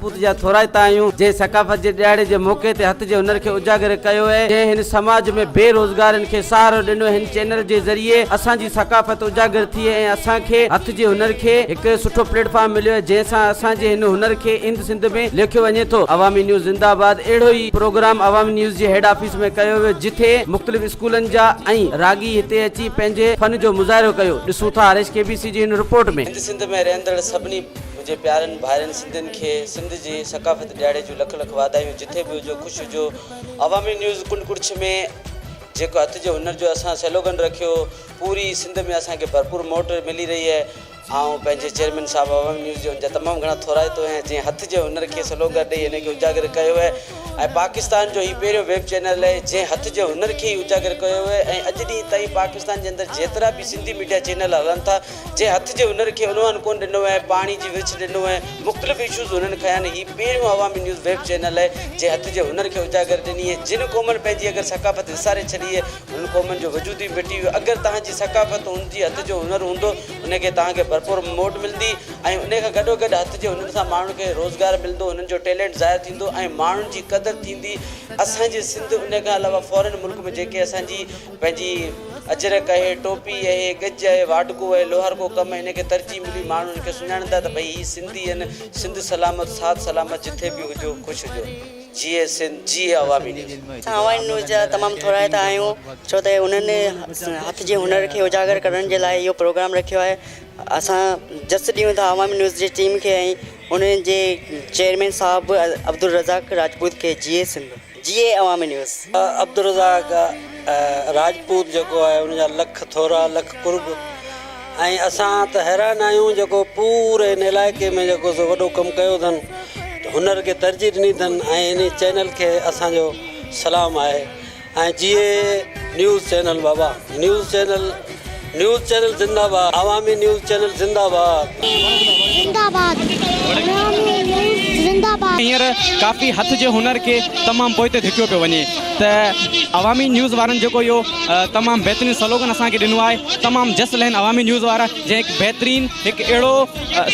پوت جا ٿورائتا آهيون، جنهن ثقافت جي ڏهاڙي جي موقعي تي هٿ جي هنر کي اجاگر ڪيو ۽ جنهن هن سماج ۾ بي روزگارن کي سهارو ڏنو، هن چينل جي ذريعي اسان جي ثقافت اجاگر ٿي ۽ اسان کي هٿ جي هنر کي هڪ سٺو پليٽ فارم مليو آهي جنهن سان اسان جي هن هنر کي اند سنڌ ۾ ليکيو وڃي ٿو. عوامي نيوز زنده آباد اهڙو ئي پروگرام عوامي نيوز جي هيڊ آفيس ۾ ڪيو ويو جتي مختلف اسڪولن جا ۽ راڳي هتي اچي پنهنجي فن جو مظاهرو ڪيو ڏسون ٿا هريش ڪي بي سي جي هن رپورٽ ۾. هند سنڌ ۾ رهندڙ سڀني. منهنجي پيارن ڀائرن سنڌين کي سنڌ جي ثقافت ڏيهاڙي جون لک لک واڌايون جٿي به هجو خوش هجو عوامي نيوز ڪنڊ ڪڙڇ ۾ جيڪو هٿ جي هنر جو اسان سيلوگن رکيو پوري سنڌ ۾ اسان کي ڀرپور موٽ ملي رهي آهي آئون پنهنجي چيئرمين صاحب عوامي نيوز جو ان جا تمام گهڻا ٿورائتو آهيان جنهن هٿ جي هنر کي سلوگر ڏئي ان کي اجاگر ڪيو آهي ۽ پاڪستان جو هي پهريون ويب چينل آهي جنهن هٿ جي هنر کي ئي اجاگر ڪيو آهي ۽ اڄ ڏينهن تائين پاڪستان جي اندر جيترا به سنڌي ميڊيا چينل هلن ٿا جنهن هٿ جي هنر کي عنوان ڪونه ڏنو ۽ پاڻي جي ورڇ ڏنو ۽ مختلف اشوز هنن کنيا آهن هي پهريون عوامي نيوز ويب چينل آهي جنهن هٿ جي هنر کي اجاگر ڏني ۽ جن قومن پنهنجي اگر ثقافت وساري ڇڏي اهي هن قومن جو وجود ئي مٽي ويو اگر توهان جي ثقافت هن جي هٿ جو هنر هوندو ان کي توهان کي ڀرپور موٽ ملندي ۽ انهي کان گڏو گڏ هٿ جي هنر سان ماڻهن کي روزگار ملندو هنن جو ٽيلنٽ ظاهر ٿيندو ۽ ماڻهن جي قدر ٿيندي اسان جي سنڌ انهي کان علاوه فارين ملڪ ۾ جيڪي اسان جي پنهنجي اجرڪ اهي، ٽوپي اهي، ڳج اهي، واڍڪو اهي، لوهارڪو ڪم هن کي ترجيح ملي، ماڻهو هن کي سڃاڻيندا ته ڀئي هي سنڌي هن، سنڌ سلامت ساٿ سلامت جٿي به هجو خوش هجو جيئي سنڌ جيئي عوامي نيوز. اسان عوامي نيوز جا تمام ٿورائتا آهيون ڇو ته انهن هٿ جي هنر کي اجاگر ڪرڻ جي لاء اهو پروگرام رکيو آهي اسان جس ڏيون ٿا عوامي نيوز جي ٽيم کي ۽ انهن جي چيئرمين صاحب عبدالرزاق راجپوت کي جيئي سنڌ. جي اي عوامي نيوز. عبدالرزاق راجپوت جيڪو آهي ان جا لک ٿورا لک قرب ۽ اسان ته حيران آهيون جيڪو پوري ان علائقي ۾ جيڪو سو وڏو ڪم ڪيو اٿن هنر کي ترجيح ڏني اٿن ۽ انهي چينل کي اسان جو سلام آهي ۽ G A news channel Baba news channel news channel زنده باد عوامي نيوز چينل زنده باد. زنده باد عوامي نيوز زنده باد. هينئر ڪافي هٿ جي هنر کي تمام پوئتي ڌڪيو پيو وڃي ته عوامي نيوز وارن جيڪو اهو تمام بهترين سلوگن اسان کي ڏنو آهي تمام جس لهن عوامي نيوز وارا جنهن هڪ بهترين هڪ اهڙو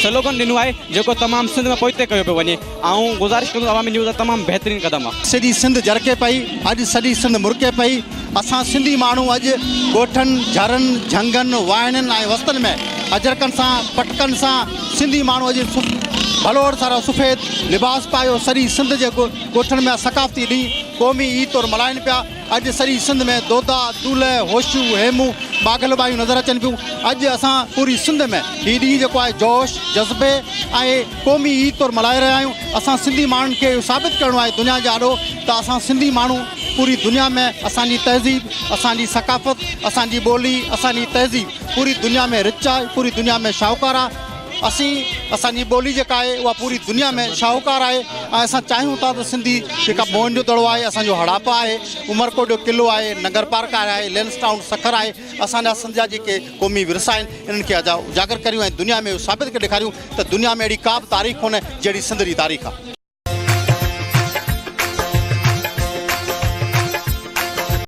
سلوگن ڏنو آهي جيڪو تمام سنڌ ۾ پوئتي ڪيو پيو وڃي. آئون گذارش ڪندس عوامي نيوز تمام بهترين قدم آ. سڄي سنڌ جرڪي پئي اڄ سڄي سنڌ مرڪي پئي اسان سنڌي ماڻهو اڄ ڳوٺن جھرن جھنگن واهڻين ۽ وستن ۾ اجرڪن سان پٽڪن سان سنڌي ماڻهو اڄ ڀلوڙ سارا سفيد لباس پايو سڄي سنڌ جي ڳوٺن ۾ ثقافتي ڏينهن قومي عيد طور ملهائين پيا اڄ سڄي سنڌ ۾ دودا دولهه هوشو هيمو ماگهل ٻايون نظر اچن پيون اڄ اسان پوري سنڌ ۾ هي ڏينهن جيڪو آهي جوش جذبي ۽ قومي عيد طور ملهائي رهيا آهيون اسان سنڌي ماڻهن کي اهو ثابت ڪرڻو آهي دنيا جي آڏو ته اسان سنڌي ماڻهو پوري دنيا ۾ اسان جي تهذيب اسان جي ثقافت اسان جي ٻولي اسان جي تهذيب پوري دنيا ۾ رچ آهي پوري دنيا ۾ شاهوڪار آهي اسين اسان جي ٻولي جيڪا آهي اها پوري دنيا ۾ شاهوڪار آهي ۽ اسان چاهيون ٿا ته سنڌي جيڪا موهن جو دڙو آهي اسان جو هڙاپا آهي عمرڪوٽ جو قلعو آهي نگر پارڪ آهي لينس ٽائون سکر آهي اسان جا سنڌ جا جيڪي قومي ورثا آهن انهن کي اجاگر ڪريون ۽ دنيا ۾ اهو ثابت ڪري ڏيکاريون ته دنيا ۾ اهڙي ڪا به تاريخ ڪونهي جهڙي سنڌ جي تاريخ آهي.